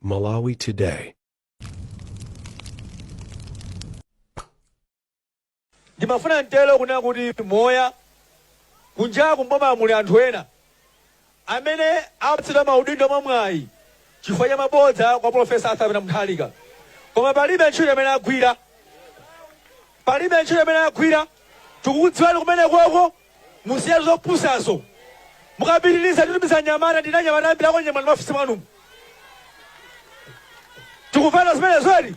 Malawi Today. ndimafuna mtero kunena kuti moti kunjaku mboma muli anthu ena amene apatsidwa maudindo mwamwayi chifukwa cha mabodza kwa profesa Arthur Peter Mutharika koma palibe ntchito imene agwira palibe ntchito imene agwira tikukudziwani kumene koko Musiye zopusazo. Mukapitiliza nditumiza anyamata ndili ndi anyamata ambiri akukunyamulani m'maofisi mwanumu. Tikufana zimenezo eti?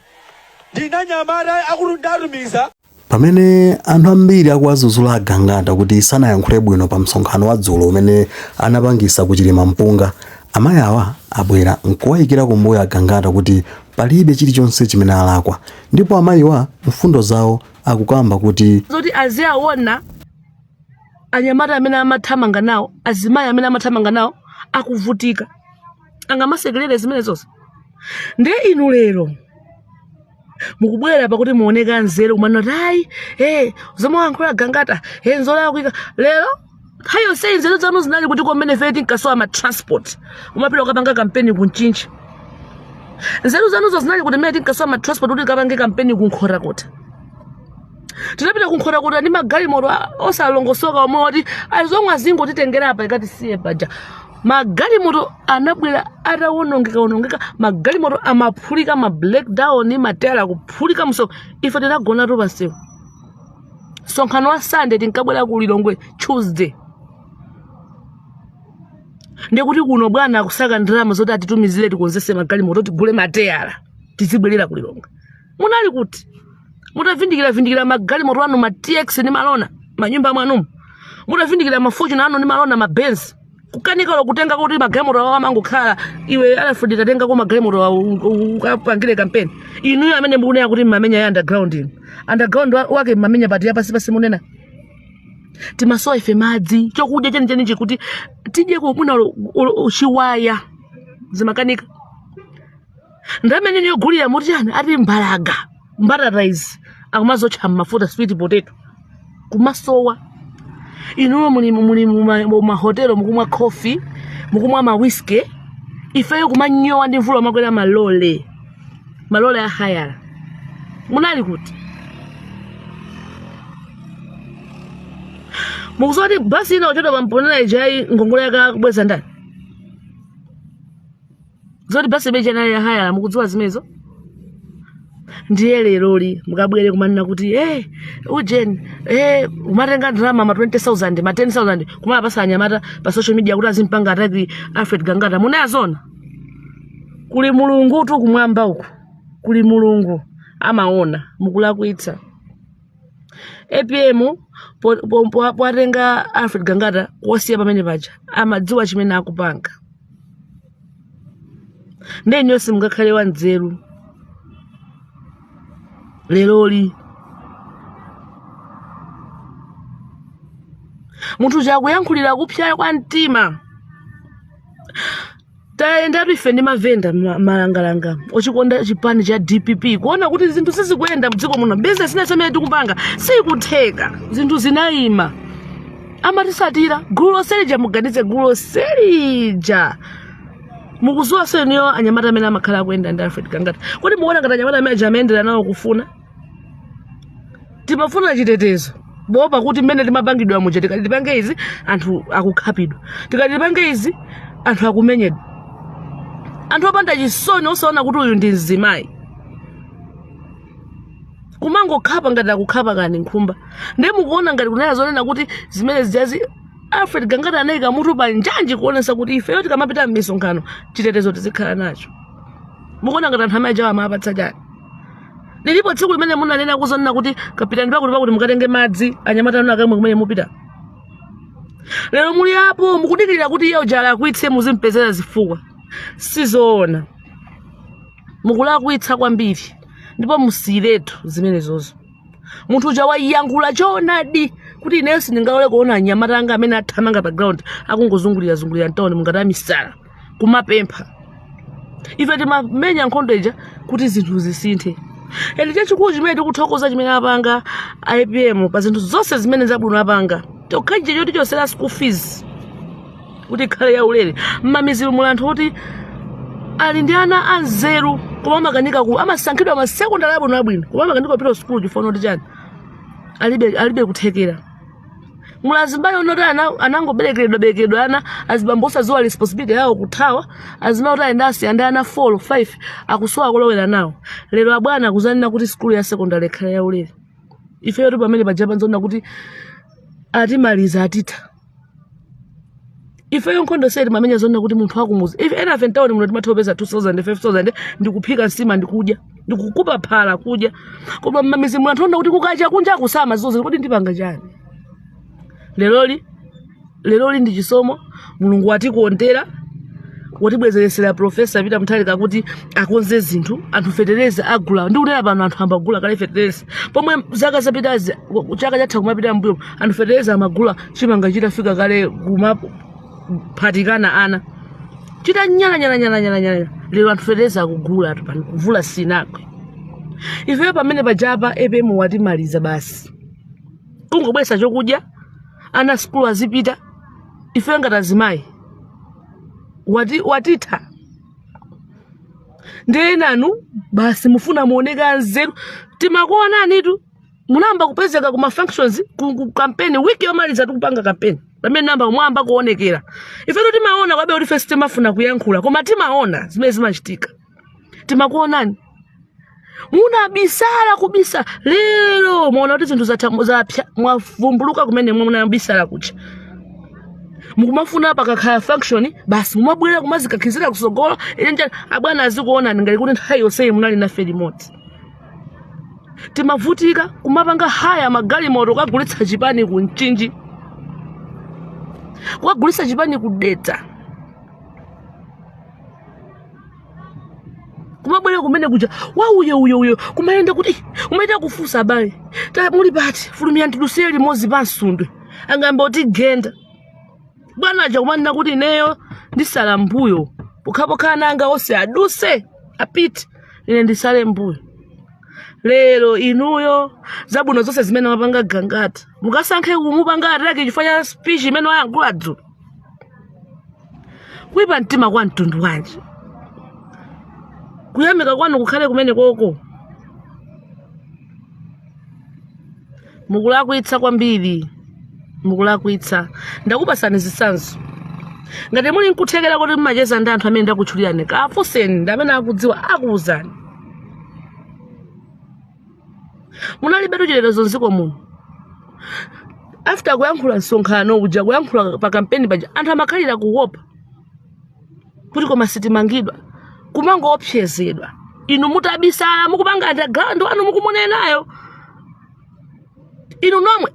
Ndili ndi anyamata akulu ndatumiza. Pamene anthu ambiri akuwazuzula agangata kuti sanayankhule bwino pa msonkhano wa dzulo umene anapangisa ku Chilimampunga, amayi awa abwera nkuwayikira kumbuyo agangata kuti palibe chilichonse chimene alakwa ndipo amayiwa mfundo zawo akukamba kuti zoti aziwaona anyamata amene amathamanga nawo azimayi amene amathamanga nawo akuvutika angamasekerere zimenezozi ndiye inu lero mukubwera pakuti muoneke anzeru kumanena kuti ayi e zomwe wayankhula gangata e nzolakwika lero nthawi yonse nzeru zanu zinali kuti mmene ife tinkasowa ma transport kumapita kukapanga kampeni ku Mchinji nzeru zanuzo zinali kuti mmene tinkasowa ma transport kuti tikapange kampeni ku Nkhotakota tinapita ku Nkhotakota ndi magalimoto a- osalongosoka omwe oti azomwe azingotitengera apa ikatisiye paja magalimoto anabwera atawonongeka wonongeka magalimoto amaphulika ma breakdown mateyala kuphulika mmsewu ife tinagonatu pansewu msonkhano wa sande tinkabwera ku lilongwe tuesday ndikuti kuno bwana akusaka ndalama zoti atitumizire tikonzese magalimoto tigule mateyala tizibwerera ku lilongwe munali kuti mutavindikira vindikira magalimoto anu ma tx ndi malona manyumba mwanumu mutavindikira ma fortuner anu ndi malona mabenzi kukanika olo kutenga kuti magalimoto awo amangokhala iwe alufuledi tatengako magalimoto awo ukapangire kampeni inuyo amene mukunena kuti mmamenya ya underground inu underground wa- wake mmamenya pati yapasi pasi mmene timasowa ife madzi chokudya chenicheni chikuti tidye kugula chiwaya zimakanika ndalama yogulira muti chani ati mbalaga mbatata izi akumaziotcha mmafuta sweet potato kumasowa inuyo muli muli muma- mumahotelo mukumwa coffee mukumwa mawiski ifeyo kumanyowa ndi mvula kumakwera malole malole a hayala munali kuti mukuziwa kuti basi inaotchedwa pa Mponela ijayi ngongole yake akubweza ndani zoti basi beji anali ya hayara mukudziwa zimenezo ndiye leroli mukabwere kumanena kuti hey, ujeni hey, mumatenga ndalama ma 20000 ma 10000 kumawapatsa anyamata pa social media kuti azimpanga ataki alfred gangata munayazona kuli mulungutu kumwamba uku kuli mulungu amaona mukulakwitsa apm po- po- po- powatenga alfred gangata kuwasiya pamene paja amadziwa chimene akupanga nde inuyo nonse mungakhale wanzeru leroli munthu chakuyankhulira kupsa kwa mtima tayendatu ife ndi mavenda ma- malangalanga ochikonda chipani cha dpp kuona kuti zinthu sizikuyenda mdziko muno bizinesi ina zimene tikupanga sikutheka zinthu zinayima amatitsatira gulu lonse lija muganize gulu lonse lija mukudziwa se inuyo anyamata amene amakhala akuyenda ndi alfred gangata kodi mukuona ngati anyamata amene aja amayendera nawo kufuna timafuna chitetezo poopa kuti mmene timapangidwa muja tikati tipange izi anthu akukhapidwa tikati tipange izi anthu akumenyedwa anthu opanda chisoni osaona kuti uyu ndi mzimayi kumangokhapa ngati akukhapa kaya ndi nkhumba ndiye mukuona ngati kunena zonena kuti zimene zijazi alfred gangata anayika mutu pa njanji kuonetsa kuti ifeyo tikamapita m'misonkhano chitetezo tizikhala nacho mukuona ngati anthu amene ajawa amapatsidwa chani lilipo tsiku limene munanena zonena kuti kapiteni pakuti pakuti mukatenge madzi anyamata anu akamwe kumene mukupita lero muli apo mukudikirira kuti iye uja alakwitse muzimpezera zifukwa sizoona mukulakwitsa kwambiri ndipo musiyiretu zimenezozo munthu uja wayankhula choonadi kuti ineyo sindingalole kuona anyamata anga amene athamanga pa ground akungozungulira zungulira mtawuni muno ngati amisala kumapempha ife timamenya nkhondo ija kuti zinthu zisinthe ende chachikulu chimene tikuthokoza chimene apanga apm pa zinthu zonse zimene zabwino apanga chokhachi choti chochotsera school fees kuti ikhale yaulere mmamidzimu muli anthu oti ali ndi ana anzeru koma amakanika ku amasankhidwa masekondari abwino abwino koma amakanika kupita kusukulu chifukwa choti chani alibe alibe kuthekera muli azimayi oti ana- anangoberekeredwa berekeredwa ana azibambo osadziwa responsibility yawo kuthawa azimayi oti ayenda awasiya ndi ana 4 5 akusowa kolowera nawo lero abwana akuzanena kuti sukulu ya sekondari ikhale yaulere ifeyotu pamene paja paja paokha kuti atimaliza atitha ifeyo nkhondo sitimamenya zonna kuti munthu wakumuzi ife enafe mtawoni muno timatha kupeza 2000 5000 ndikuphika nsima ndikudya ndikuphika phala kudya koma mmamizi muno anthu ona kuti kukacha kunja kusama zizozi kodi ndipanga chani leroli ndi chisomo mulungu watikondera, watibwezeresera profesa Peter Mutharika kuti akonze zinthu anthu fetereza agula ndi kunena pano anthu ambagula kale fetereza pomwe zaka zapitazi chaka chatha kumapita mbuyo anthu fetereza amagula chimanga chitafika kale kumaphatikana ana chitanyalanyala lero anthu fetereza akuguliratu pano mvula sinagwe ifeyo pamene paja pa apm watimaliza basi kungobweza chokudya ana sukulu azipita ifeyo ngati azimayi watitha ndiye nanu basi mufuna muoneka anzeru timakuonanitu munayamba kupezeka ku mafunctions ku, ku campaign wiki yomaliza tikupanga campaign pamene munayamba kuonekera ifetu timaona kwabe kuti first timafuna kuyankhula koma timaona zimene zimachitika timakuonani munabisala kubisala lero mwaona kuti zinthu zatha- zapsa mwavumbuluka kumene munabisala kuja mukumafuna pakakhala function basi mumabwera kumazikankhizira kusogolo ine nja abwana azikuonani ngati kuti nthawi yonseyi munali nafe limodzi timavutika kumapanga haya magalimoto kukagulitsa chipani ku mchinji kukagulitsa chipani ku dedza kumabwera kumene kuja wauyo uyo uyo kumayenda kuti "Ih, umayenda kufunsa abale Ta- muli pati fulumira tidutsire limodzi pa msundwe angayamba kutigenda bwana aja kumanena kuti ineyo ndisala mbuyo pokhapokha ana anga onse aduse apite ine ndisale mbuyo lero inuyo zabwino zonse zimene wapanga gangata mukasankhe kumupanga attack chifukwa cha speech imene wayankhula dzulo kuipa mtima kwa mtundu wanji kuyamika kwanu kukhale kumeneko mukulakwitsa kwambiri mukulakwitsa ndakupasani zitsanzo ngati muli nkuthekera kuti mumacheza ndi anthu amene ndakutchulirani kafunseni ndi amene akudziwa akuwuzani munalibe mtchire lero zamdziko muno after kuyankhula msonkhano uja kuyankhula pa kampeni paja anthu amakhalira kuwopa kuti koma sitimangidwa kumangoopsezedwa inu mutabisala mukupanga underground wanu mukumunenayo inu nomwe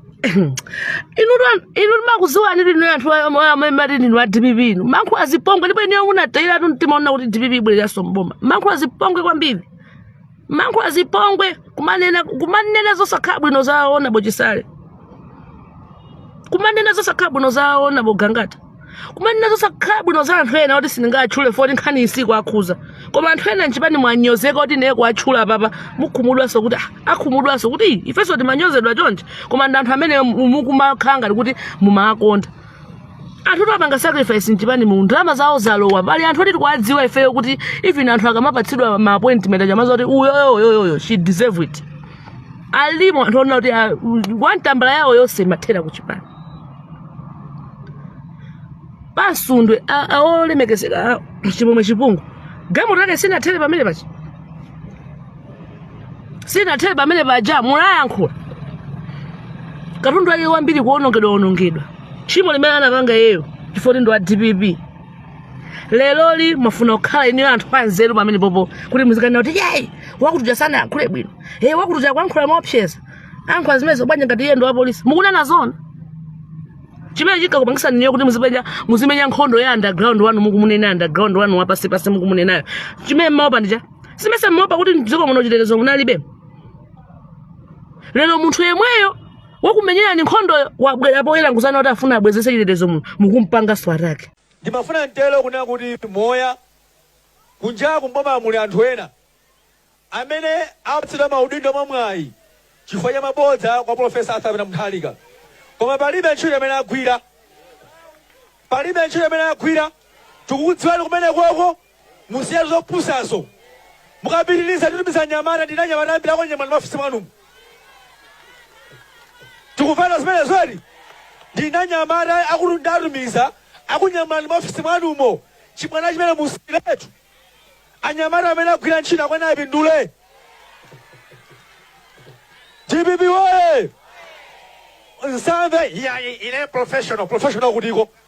inu lwa- inu timakudziwani inu anthu amati ndinu a dpp inu munkachita zipongwe ndipo inuyo munatayiratu mtima kunena kuti dpp ibwereranso mboma munkachita zipongwe kwambiri mankhula zipongwe kumanena zosakhala bwino za Honourable Chisale kumanena zosakhala bwino za Honourable Gangata kumanena zosakhala bwino za anthu ena oti sindingatchule poti nkhaniyi sikuwakhudza koma anthu ena nchipani mwanyozeka kuti ndiye kuwatchula papa mukhumudwanso kuti ah, akhumudwanso kuti "Ih, ifenso timanyozedwa chonchi koma ndi anthu amene mukumakhala ngati kuti mumawakonda anthu oti apanga sacrifice mchipani mu ndalama zawo zalowa pali anthu oti tikuwadziwa ifeyo kuti even anthu akamapatsidwa ma appointment amadziwa kuti uyoyoyoyoyo she deserve it alimo anthu onena kuti ah, one tambala yawo yonse imathera kuchipani pa Msundwe a- a- olemekezeka a- Chimwemwe Chipungu galimoto yake sinathere pamenepaja sinathere pamenepaja munayankhula katundu wake wambiri kuonongedwa onongedwa tchimo limene anapanga iyeyo chifukwa ndi wa dpp leroli mufuna kukhala inuyo anthu anzeru pamenepopo kuti muzikanena kuti iyayi wakutuja sanayankhule bwino e wakutuja kuyankhula moopseza ayankhula zimenezo bwanji ngati iye ndi wapolisi mukunena zona chimene chikukupangitsani inuyo kuti muzipenya muzimenya nkhondo ya underground wanu mukumunena underground wanu wapansipansi mukumunenayo chimene mmaopa ndicha simesa mmaopa kuti mdziko muno chitetezo munalibe lero munthu yemweyo wakumenyerani nkhondoyo wabwera poyera nkudzanena kuti afuna abwezese chitetezo muno mukumpanganso attack ndimafuna nditero kunena kuti moya kunjaku mboma muli anthu ena amene apatsidwa maudindo mwamwayi chifukwa cha mabodza kwa profesa Arthur Peter Mutharika koma palibe ntchito imene agwira palibe ntchito imene agwira tikukudziwani kumenekoko Musiye zopusazo. Mukapitiliza nditumiza anyamata ndi anyamata ambiri akunyamulani mmaofisi mwanumu. Tikumvana zimenezo eti. Ndi anyamata akulu ndatumiza akunyamulani mmaofisi mwanumo. Chibwana chimene musiyiretu. Anyamata amene agwira ntchito akuyenera apindule. DPP woye! Nsambe ya ile professional professional kutiko.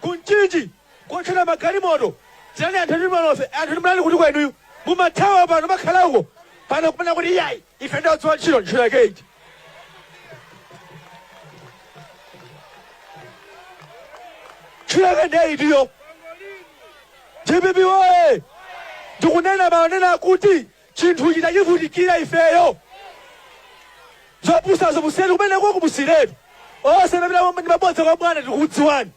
Ku Mchinji kuotchera magalimoto. Tiyani anthu ndi malofe, anthu munali kutiko inuyo. Mumathawa pano makhala uko. Pano kumanena kuti iyayi, ife ndi odziwa ntchito ntchito yake iti. Ntchito yake ndiye itiyo. DPP woye! Ndikunena monena kuti Chinthu choti tachivutikira ifeyo zopusazo musiyiretu kumenekoko musiyiretu onse amapita ndi mabodza kwa bwana tikukudziwani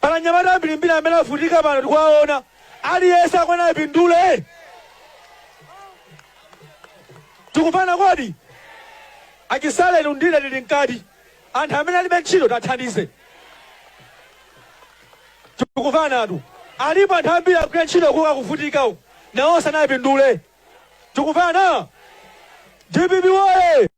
pali anyamata ambirimbiri amene avutika pano tikuwaona aliyense akuyenera apindule tikumvana kodi a Chisale ndi undira tili mkati anthu amene alibe ntchito tathandize tikuvanatu alipo anthu ambiri akugwira ntchito koma akuvutika uku nawonso anapindule tikuvana dpp woye